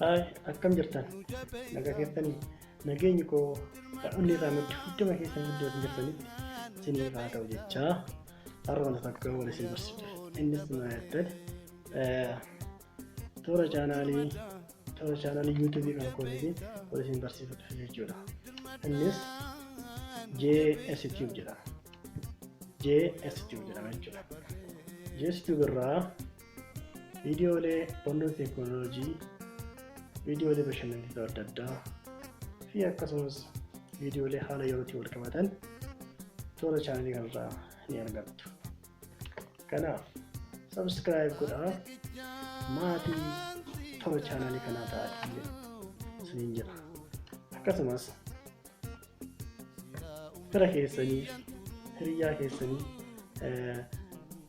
Haay akkam jirtan nagaa keessanii nageenyi koo dhaloonni irraa maddu hunduma keessan iddoo isin jirtanitti isiniif haa ta'u jechaa har'a wanta takka wal isin barsiisa innis maayattan toora chaanaalii Kana chaanalii yuutuubii kan kootiti wal isin barsiifadha jechuudha. Innis JS Tube jedhama. JS Tube jedhama jechuudha. JS Tube irraa viidiyoolee barnoota teekinooloojii, viidiyoolee bashannansiisoo adda addaa fi akkasumas viidiyoolee haala yerootiin wal qabatan toora chaanalii kanarraa ni argattu. Kanaaf subscribe godhaa maatii toora chaanaalii kanaa ta'aa isiniin jedha. Akkasumas fira keessanii hiriyyaa keessanii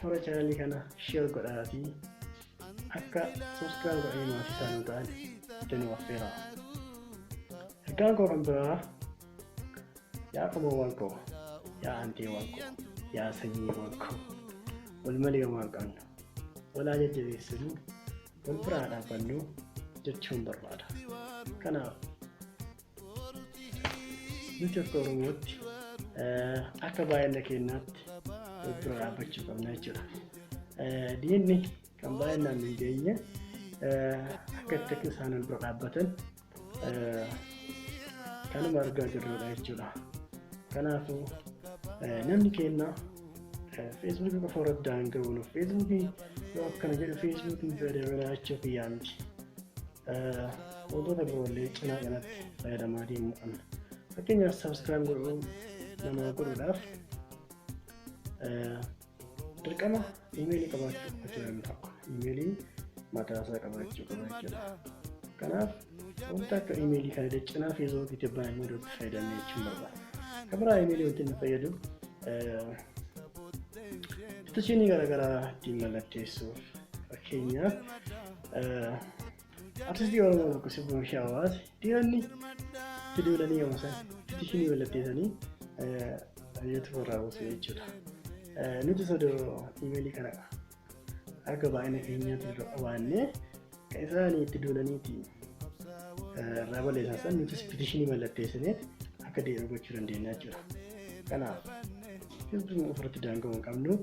toora chaanaalii kana share godhaa fi akka subscribe godhanii maatii isaanii ta'an itti nu affeeraa. Ergaan koo kan biraa Yaa qomoowwan koo, yaa hanteewwan koo, yaa sanyiiwwan koo, wal malee homaa hin qabnu. Wal haa jajjabeessinu, wal bira haa dhaabbannu jechuun barbaada. Kanaaf nuti akka Oromootti eh, akka baay'ina keenyaatti wal bira dhaabbachuu qabna jechuudha. Eh, Diinni kan baay'inaan hin geenye eh, akka itti isaan wal bira dhaabbatan kanuma argaa jirrudha jechuudha. Kanaafuu namni keenya feesbuukii qofa irratti daanga'uun feesbuukii yoo akkana jedhu feesbuukiin fayyadamina jechuu kiyyaa miti. Wantoota biroollee cinaa kanatti fayyadamaa deemuu qabna. Fakkeenyaaf sabiskiraayib godhuu namaa godhuudhaaf Dirqama iimeelii qabaachuu qofa jira inni tokko. Iimeeliin mataa isaa qabaachuu qaba jechuudha. Kanaaf wanta akka iimeelii kana daccanaa feesbuukii tibbaa immoo iddootti fayyadamne jechuun barbaada. Kan biraa iimeelii wanti inni fayyadu istaashinii garaagaraa ittiin mallatteessuuf fakkeenyaaf Artistii Oromoo tokko sirba ishee hawaase dhiironni itti duulanii yommuu san fitishinii wallatteessanii ayyatu irraa buusu jechuudha. Nuti sodoo imeelii kana akka baay'ina keenyaatti dura qabaannee kan isaanii itti duulaniiti irraa balleessan san nutis fitishinii mallatteessinee akka deebi'u gochuu dandeenya jechuudha. Kanaaf sirbi ofirratti daanga'uu hin qabnu.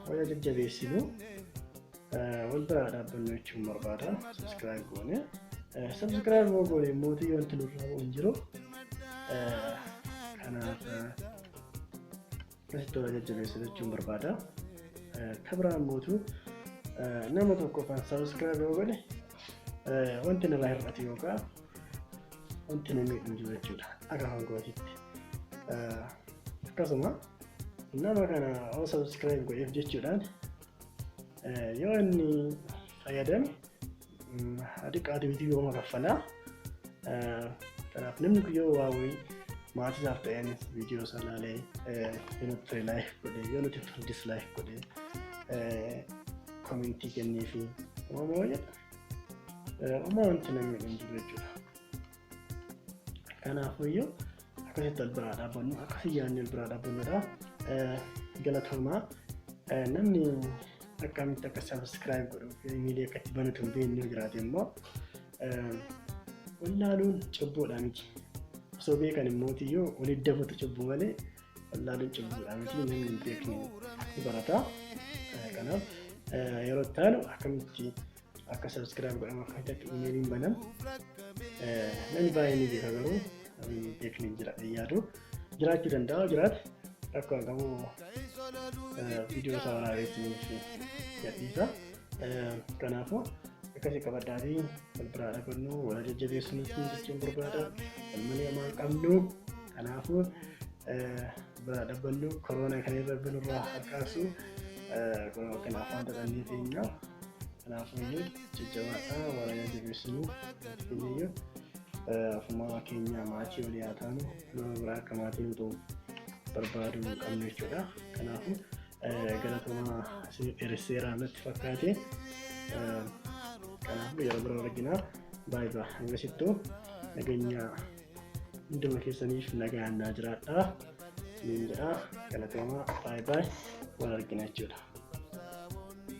Waya jajjabeessinu wal biraa dhaabbannu jechuun barbaada. Subscribe goone. Subscribe moo goone immoo yoo wanti nurraa bu'u hin jiru. Kanaaf asitti wal jajjabeessu jechuun barbaada. Kabiraan mootu nama tokko kan subscribe yoo godhe wanti nurraa hir'atu yookaan wanti na miidhu jiru jechuudha. Akka hangootitti. Akkasuma Nama kana yoo subscribe godheef jechuudhaan yoo inni fayyadame haa xiqqaatu YouTube hooma kaffalaa. Kanaaf namni kun yoo waa wayii maatii isaaf ta'een viidiyoo isaa ilaalee yoo nuti ture laayik godhee yoo nuti ture dislaayik godhee komentii kennee fi uumamoo jedha. Uumaa wanti namni hin jiru jechuudha. Kanaafuyyuu akkasitti wal biraa dhaabbannu akkasii yaadni wal biraa dhaabbannudha. Galatoomaa namni akkamitti akka sabiskiraayib godhuuf imeelii akka itti banatu hin beekne jiraate immoo wallaaluun cubbuudha miti. Osoo beekan immoo yoo wal iddabatu cubbuu malee wallaaluun cubbuudha miti namni hin beekne ni barata. Kanaaf yeroo itti aanu akkamitti akka subscribe godhamu akka hojjatu imeeliin banan namni baay'ee ni beeka garuu beekni jira yaadu jiraachuu danda'a jiraate rakkoo hin qabu viidiyoo isaa waraabeetiniif gadhiisa kanaafuu akkasii qabadhaa fi wal biraa dhabannu wal jajjabeessuun jechuun barbaada wal malee amaan qabnu kanaafuu biraa dhabbannuu koroona kan irra binurraa harkaasu kunoo kan afaan dadhannee teenyaa kanaafuyyuu jajjabaadhaa waraana jabeessinuu teenyayyu afumaa keenya maatii olii haa taanu nama biraa akka maatii nutu barbaadu qabnu jechuudha kanaafu galatomaa isin dheeresseeraa natti fakkaate kanaaf yeroo bira arginaa baay'ee hangasittuu nageenyaa hunduma keessaniif nagaan naa jiraadha isiniin jedha galatoomaa baay baay wal argina jechuudha.